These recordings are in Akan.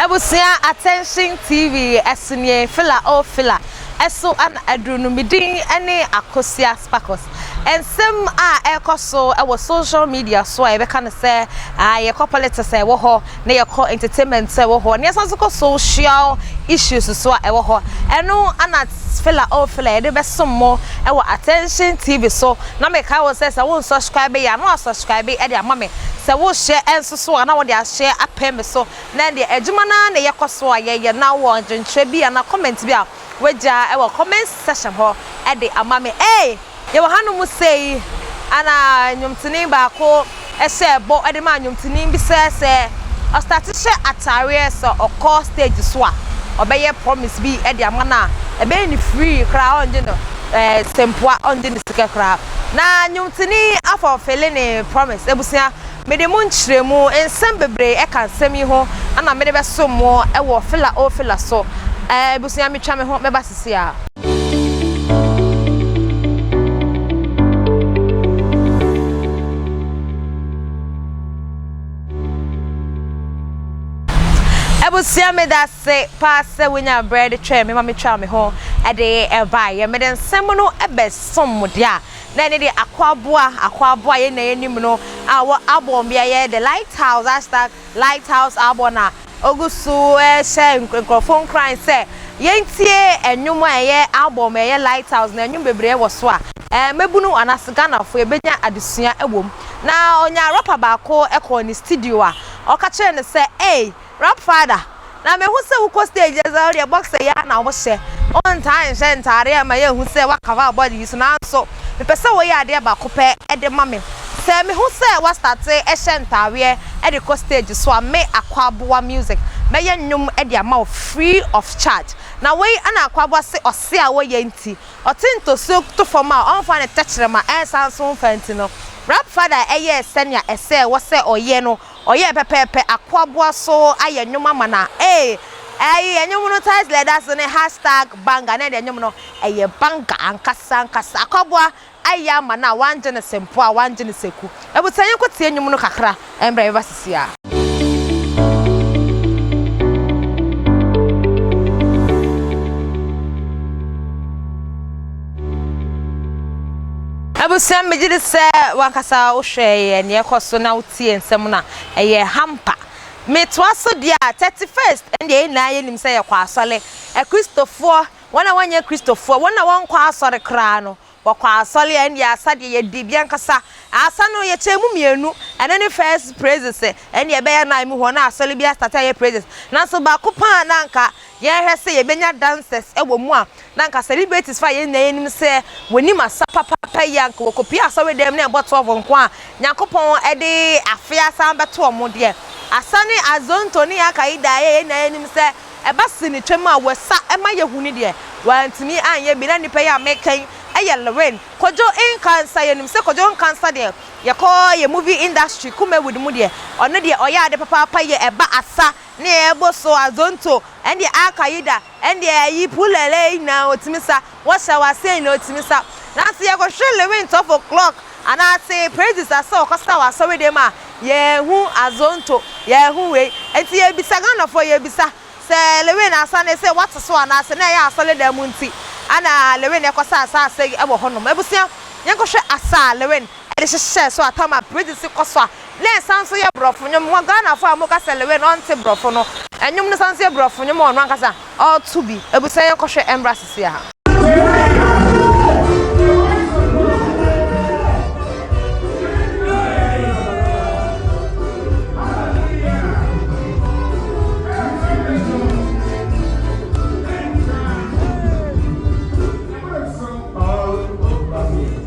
Abusua Attention TV ɛso nie Fila oh Fila ɛso na aduru no me din ne Akosua Sparkles nsɛm a ɛrekɔ so wɔ social media so a yɛbɛka no sɛ yɛkɔ politics a ɛwɔ hɔ na yɛkɔ entertainment so a ɛwɔ hɔ na yɛsan nso kɔ social issues so a ɛwɔ hɔ ɛno ana fela oh fela yɛde bɛsom mo ɛwɔ attention tv so na mekae wo sɛ sɛ wo nsubscribe yɛ a na wasubscribe ɛde ama me sɛ wo hyɛ ɛnso so a na wode ahyɛ apɛ me so na ɛdeɛ adwuma no ara na yɛkɔ so a yɛyɛ na wɔ adwenkyerɛ bi anaa comment bi a wagya wɔ comment section hɔ de ama me ei yɛwɔ hanom sei ɛna nnwomtoni baako hyɛ bɔ de maa nnwomtoni bi sɛ sɛ ɔstate hyɛ ataareɛ sɛ ɔkɔ stage so a ɔbɛyɛ promise bi de ama no a ɛbɛyɛ ne free koraa ɔngye no ɛɛ sɛmpoa ɔngye ne sika koraa na nnwomtoni afɔ fele ne promise abusua Mede mo nkyerɛmu nsɛm bebree ka nsɛm yi ho na mede bɛsom mo wɔ fela o fela so. Ɛɛ, abusua, metwa me ho mɛba sese a. Abusua, meda ase paa sɛ wonya berɛ de twɛn me ma metwaa me ho de baeɛ. Mede nsɛm no bɛsom mo deɛ a. Na ɛno deɛ Akwaboa, Akwaboa yɛn nyinaa nim no a ɔwɔ Aborn bea yɛ the Lighthouse hashtag Lighthouse Aborn a ɔgu so rehyɛ nkurɔfoɔ nkuran sɛ yɛntie nnwom a ɛyɛ Aborn bea yɛ Lighthouse na nnwom bebree wɔ so a mmabunu anaasɛ Ghanafoɔ yɛbɛnya adesua wɔ mu. Na ɔnyaa rapper baako kɔɔ ne studio a ɔka kyerɛɛ no sɛ ei Rap father, na me hu sɛ wo kɔ stage a sɛ wo deɛ boxer yi ara na wo hyɛ, wo ntaa nhyɛ ntaadeɛ a ɛma yɛ hu sɛ wa cover wo body yi so, nanso me pɛ sɛ wo yɛ adeɛ baako pɛ de ma me, sɛ me hu sɛ wa starte hyɛ ntaadeɛ de kɔ stage so a, me Akwaboa Music mɛ yɛ nnwom de ama wo free of charge, na wei na Akwaboa se ɔse a wo yɛ nti, ɔte ntosuo to fam a ɔnfa ne tɛkyerɛma ɛnsan so nfa nti no, Rap father yɛɛ sɛnea ɛsɛɛ wɔ sɛ ɔyɛ no, ɔyɛɛ pɛpɛɛpɛ akoaboa so ayɛ nnwom ama no a, ee, ɛyɛ nnwom no title a ɛda so ne hashtag banger, na ɛde nnwom no, ɛyɛ banger ankasa ankasa. Akoaboa ayɛ ama no a, wangye no sɛ mpoa, wangye no sɛ ku. Abusua yɛnkɔ tie nnwom no kakra mbrɛ yɛbɛba sisi a. Abusua megye di sɛ wankasa wohwɛɛ yɛ nea ɛkɔ so na wo. tie nsɛm no a, ɛyɛ hampa. Metoa so deɛ a, thirty first ɛndeɛ yɛn nyinaa yɛnim sɛ yɛkɔ asɔre. Akristofoɔ, wɔn a wɔnyɛ Kristofoɔ, wɔn a wɔnkɔ asɔre koraa no, wɔkɔ asɔre a, ɛndeɛ asa deɛ yɛdi bi ankasa. Asa no, yɛkyɛ mu mmienu, ɛno ne first praises, ɛndeɛ ɛbɛyɛ nine mu hɔ na asɔre bi astate ayɛ praises. Nanso baako paa na anka Yɛhwɛ sɛ yebenya dances wɔ mu a, na anka celebrities fa a yɛn nyinaa yenim sɛ wonim asa papaapa yi, anka wɔkopue asɔredɛm na ɛbɔ twelve nko a, Nyankopɔn de afe asan bɛto wɔn deɛ. Asa ne Azonto ne Akaida a yɛn nyinaa yenim sɛ ɛba sinitwam a wɔsa ma yehu no deɛ, wɔantumi anyɛ bi. Na nnipa yi a meka yi yɛ Lorraine, Kojo Nkansah. Yenim sɛ Kojo Nkansah deɛ, yɛkɔ yɛn movie industry Kumawood mu deɛ, ɔno deɛ ɔyɛ ade papaapa yɛ ɛba asa. Nea ɛbɔ so, Azonto, ɛndeɛ Al-Qaeda, ɛndeɛ ayi Pulele yi nyinaa ɔtumi sa, wɔhyɛ wɔ aseɛ nyinaa ɔtumi sa. Nanso yɛkɔhwɛ Lewin twelve o'clock anaase Praises a sɛ ɔkɔsa wɔ asɔredan mu a, yɛnhu Azonto, yɛnhu wei. Nti yɛbisa Ghanafoɔ, yɛbisa, sɛ Lewin asa no ɛsɛ wate so anaase na ɛyɛ asɔredan mu nti ɛna Lewin ɛkɔsaa saa asa yi wɔ hɔnom. Abusua, yɛnkɔhwɛ asa a Lewin de hyehyɛɛ so a Tama Bridge si kɔ so a na ɛsan nso yɛ Borɔfo nnwom wɔ Ghanafo a wɔka Selewe na wɔnte Borɔfo no nnwom no san nso yɛ Borɔfo nnwom a ɔno ankasa ɔreto bi. Abusua yɛn kɔ hwɛ ɛmbra sisi a.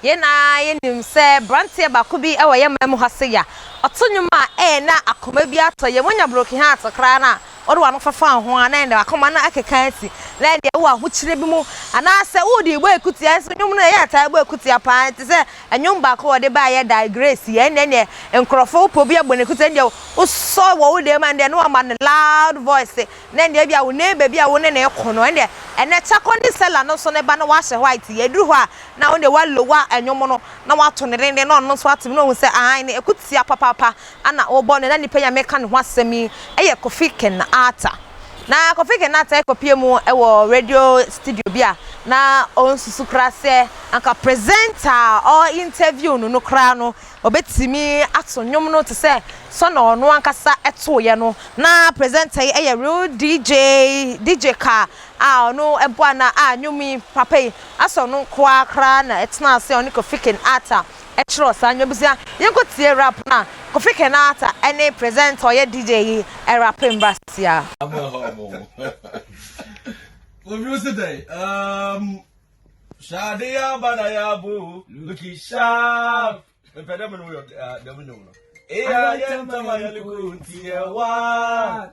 Yɛn nyinaa yɛnim sɛ branteɛ baako bi wɔ yɛn man mu ha sei a, ɔto nwom a ɛɛ na akoma bi atɔ yɛn. Wonya broken heart koraa no a, wode w'ano fafaa ho a, na ɛnde w'akoma no akeka asi, na ɛnde ɛwɔ ahokyerɛ bi mu. Anaa sɛ wode rebɔ akutia, nso nwom no yɛɛ taa bɔ akutia pa ara, te sɛ nwom baako a wɔde baeɛ da, Grace, yɛn deɛ neɛ nkorɔfoɔ wopɛ obi abɔ no akutia, ɛndeɛ wosɔ wɔ wo dan mu a, ɛndeɛ na wama no loud voice, na ɛndeɛ ebia wo neighbour bi a wo ne no rekɔ no, ɛndeɛ ɛnnɛ Chako ne Sella no nso ne ba no wahyɛ white, yɛduru hɔ a, na ɔno deɛ wa lower ɛnwom no na wa to no denden na ɔno nso ate mu na ɔhu sɛ ae no ɛko tia papaapa ɛna ɔbɔ no na nipa yi a mɛka ne ho asɛm yi ɛyɛ Kofi Kinaata na Kofi Kinaata ɛkɔ pie mu ɛwɔ radio studio bi a na ɔnsusu kora sɛ anka presenter a ɔ interview no no kora no ɔbɛtumi ato nwom no te sɛ sɔ na ɔno ankasa ɛtoeɛ no na presenter yi ɛyɛ real DJ DJ ka a ɔno boa no a nnwom yi papa yi asɔ no nko ara koraa na ɛtenaa ase a ɔne Kofi Ken Arthur kyerɛw saa nnwom yi. Yɛnkɔ tie rap no a Kofi Ken Arthur ne presenter a ɔyɛ DJ yi rape mbra sisi a. Obi si dɛn? Um, Shade ya bana ya bo, looking sharp. Mpɛ dɛ mo no yɛ dɛm nnwom no. Eya yɛ ntama yɛ likunti yɛ waa.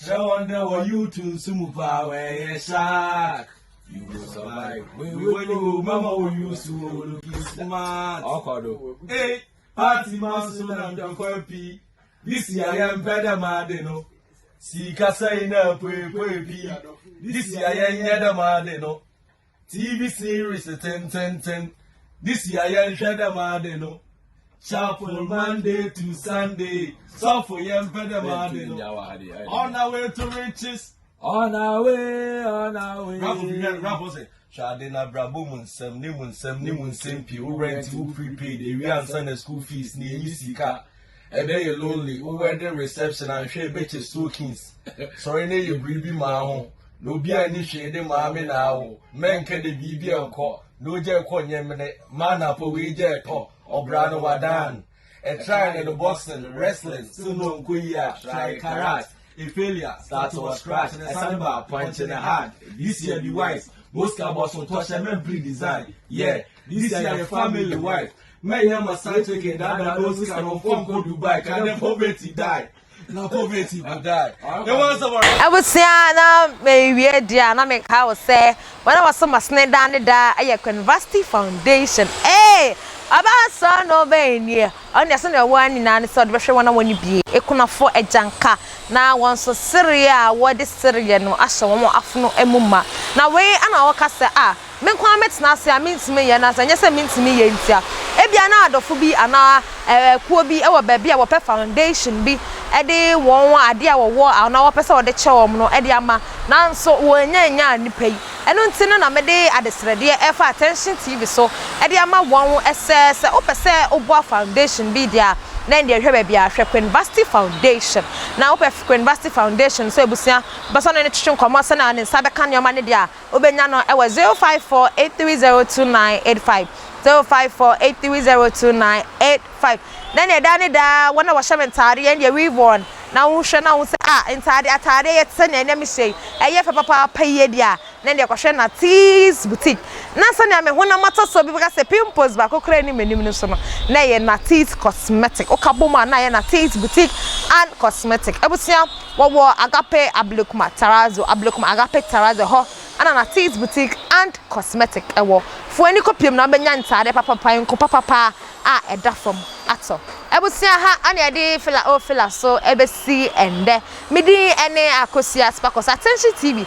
Kyerɛ wɔn dɛ wɔyew to nsu mu paa wɔyɛ shark. You go survive. Wewe ni wo mama wo yusu wo looking smart. Ọkọ do. Hey, party ma so na ntọkwa pii. This year yẹn mpẹ dẹ maa de no. Sika sẹyin na epoepoe pii. This year yẹn nyẹ dẹ maa de no. TV series tenteenten de sua yɛn hwɛ dɛm ade no. Chapel Monday to Sunday. Suffer yɛn pɛ dɛm ade no. On our way to riches. On our way, on our way. Raffle bi hwɛ raffle sɛ. Hwade na brabo mu nsɛm ne mu nsɛm ne mu nsɛm pii wo rent wo prepaid ewi ansa na school fees na eyi sika. Ɛdɛ yɛ lonely wo wedding reception a nhwɛ ɛbɛkyɛ soakings sɔre na yɛ biribi maa ho na obi a ni hwee de maa me na awo mɛnka de biribi ɛnkɔ na ogya ɛkɔ nyɛ mene ma anapa wei gya ɛtɔ ɔbra no wadan ɛtrae ne no boxing wrestling so no nkɔ yi a trae karat a failure start wɔ scratch na ɛsane ba punch ne hard this year be wise boska bɔso tɔhyɛ mɛmpiri design yeah this year yɛ family wife Mɛyɛ ma side chicken dada no sika no mfa nkɔ Dubai ka ne poverty die na poverty go die. Ne wɔn sɛ wɔn. Abusua na mewie deɛ a na meka wo sɛ wɔn a wɔso masene daa ne daa yɛ Quenvasty Foundation ee ɔbaa sɔ na ɔbaa anie ɔno deɛ sɛdeɛ ɔwɔ ara nyinaa ne sɛ ɔde bɛhwɛ wɔn a wɔn bie akunafoɔ agyanka na wɔn nso sereɛ a wɔde sereɛ no ahyɛ wɔn afono mu ma na wei na wɔka sɛ a Me nko ara mɛtena ase a mintumi nyɛ, na sɛ ɛnyɛ sɛ mintumi nyɛ nti a, ebia na adɔfo bi anaa akuw bi wɔ baabi a wɔpɛ foundation bi de wɔn ade a wɔwɔ anaa wɔpɛ sɛ wɔde kyɛ wɔn no de ama, nanso wɔannya annyaa nnipa yi. Ɛno nti no na mede adesrɛdeɛ refa Attention TV so de ama wɔn sɛ, sɛ wopɛ sɛ woboa foundation bi deɛ a, na ɛnneɛ hwɛ baabi a, hwɛ Queen Vashti Foundation. Na wopɛ Queen Vashti Foundation sɛ abusua bɛsɔ ne ne twetwe nkɔmmɔ sɛnea ne nsa bɛka nneɛma no deɛ a, Wobɛnya no wɔ 0548302985, 0548302985. Na nea ɛda ne daa wɔn a wɔhyɛ me ntaadeɛ ɛne deɛ weave wɔn na wohwɛ na wohu sɛ ah ntaadeɛ ataadeɛ yɛ te sɛ nea ɛnɛ mehyɛ yi ɛyɛ fɛ papaapa yie deɛ a na deɛ kɔhwɛ Natee's boutique na sɛnea me honam atɔsoɔ bi bɛka sɛ pimples baako koraa nni m'anim no so no na ɛyɛ Natee's cosmetic woka bom a na ɛyɛ Natee's boutique and cosmetic abusua. Wɔwɔ Agape Ablekuma Tarazo, Ablekuma Agape Tarazo, hɔ na na Tees Boutique and Cosmetic wɔ. Fa w'ani kɔ piem na wobɛnya ntaadeɛ papapa, nku papapa a ɛda fam atɔ. Abusua ha na yɛde Fela O Fela so bɛsi ɛnnɛ. Me din ne Akosua Sparkles. Attention TV.